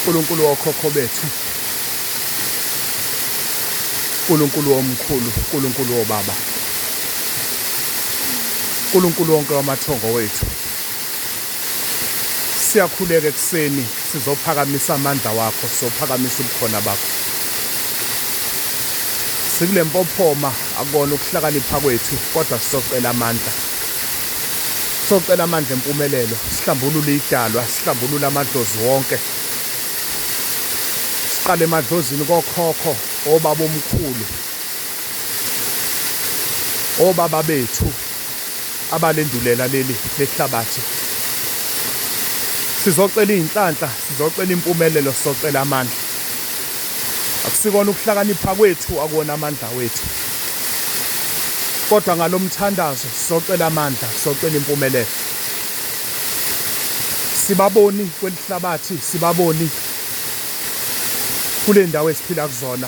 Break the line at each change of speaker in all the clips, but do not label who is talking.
Nkulunkulu wokhokho bethu Nkulunkulu omkhulu Nkulunkulu wobaba Nkulunkulu wonke wamathongo wethu Siyakhuleka ekuseni, sizophakamisa amandla wakho, sizophakamisa ubukhona bakho. Sikule mpophoma akona ukuhlakanipha kwethu, kodwa sizocela amandla. Sizocela amandla empumelelo, sihlambulule idalwa, sihlambulule amadlozi wonke. Siqale emadlozini kokhokho, obaba omkhulu, obaba bethu, abalendulela leli lehlabathi. Sizocela izinhlanhla, sizocela impumelelo, sizocela amandla. Akusikona ukuhlakanipha kwethu, akuwona amandla wethu. Kodwa ngalomthandazo sizocela amandla, sizocela impumelelo. Sibaboni kwelihlabathi, sibaboni kulendawo esiphila kuzona.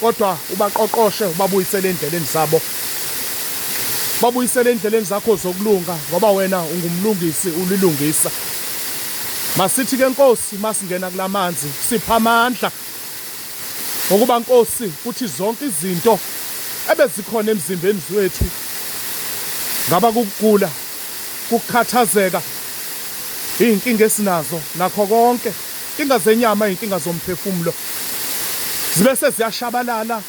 Kodwa ubaqoqoshe, ubabuyisele endleleni zabo. Babuyisele endleleni zakho zokulunga, ngoba wena ungumlungisi, ulilungisa. Masithi ke Nkosi, masingena kulamanzi, sipha amandla. Ngokuba Nkosi, kuthi zonke izinto ebezikhona emzimbeni zwethu ngaba kukugula, kukukhathazeka, izinkinga esinazo nakho konke Inkinga zenyama inkinga zomphefumulo zibese ziyashabalala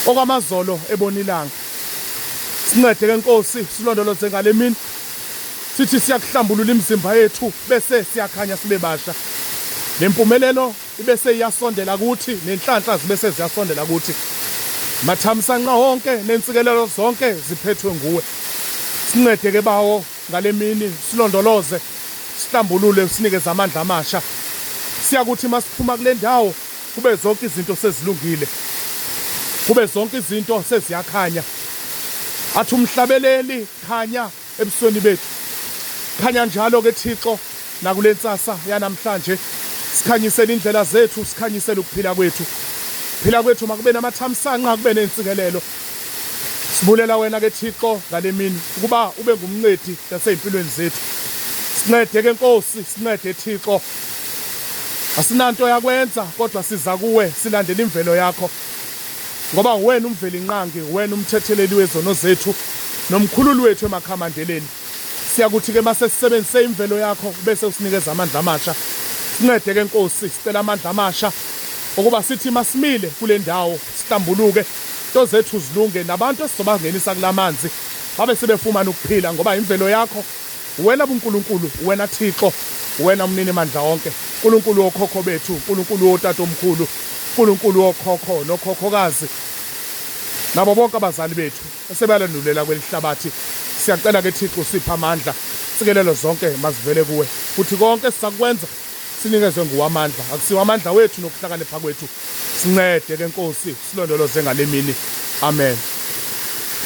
okwamazolo ebona ilanga. Sincede ke Nkosi silondoloze ngalemini sithi siyakuhlambulula imizimba yethu bese siyakhanya sibe basha nempumelelo ibese iyasondela kuthi nenhlanhla zibese ziyasondela kuthi mathamsanqa wonke nensikelelo zonke ziphethwe nguwe sincede ke bawo Ngale mini silondoloze, sihlambulule usinikeze amandla amasha. Siyakuthi masiphuma kule ndawo kube zonke izinto sezilungile. Kube zonke izinto seziyakhanya. Athi umhlabeleli khanya ebusweni bethu. Khanya njalo ke Thixo nakule nsasa yanamhlanje sikhanyisele indlela zethu sikhanyisele ukuphila kwethu. Phila kwethu makube namathamsanqa kube nensikelelo. Sibulela wena ke Thixo ngalemini ukuba ube ngumncedi nasezimpilweni zethu. Sincede ke Nkosi, sincede Thixo. Asinanto yakwenza kodwa siza kuwe silandela imvelo yakho. Ngoba uwena umveli inqangi, uwena umthetheleli wezono zethu nomkhululi wethu emakhamandeleni. Siyakuthi ke mase sisebenzise imvelo yakho bese usinikeza amandla amasha. Sincede ke Nkosi, sicela amandla amasha ukuba sithi masimile kulendawo sihlambuluke, nto zethu zilunge nabantu esizobangenisa kula manzi babe sebefumana ukuphila ngoba yimvelo yakho wena buNkulunkulu, wena Thixo, wena Mnini Mandla Onke, Nkulunkulu wokhokho bethu, Nkulunkulu wotatomkhulu, Nkulunkulu wokhokho nokhokhokazi nabo bonke abazali bethu esebalandulela kweli hlabathi. Siyacela ke Thixo usiphe amandla, sikelelo zonke mazivele kuwe, futhi konke esisakwenza Sinikezwe nguwe amandla, akusiwo amandla wethu nokuhlakanipha kwethu. Sincede ke Nkosi, silondoloze ngalemini. Amen.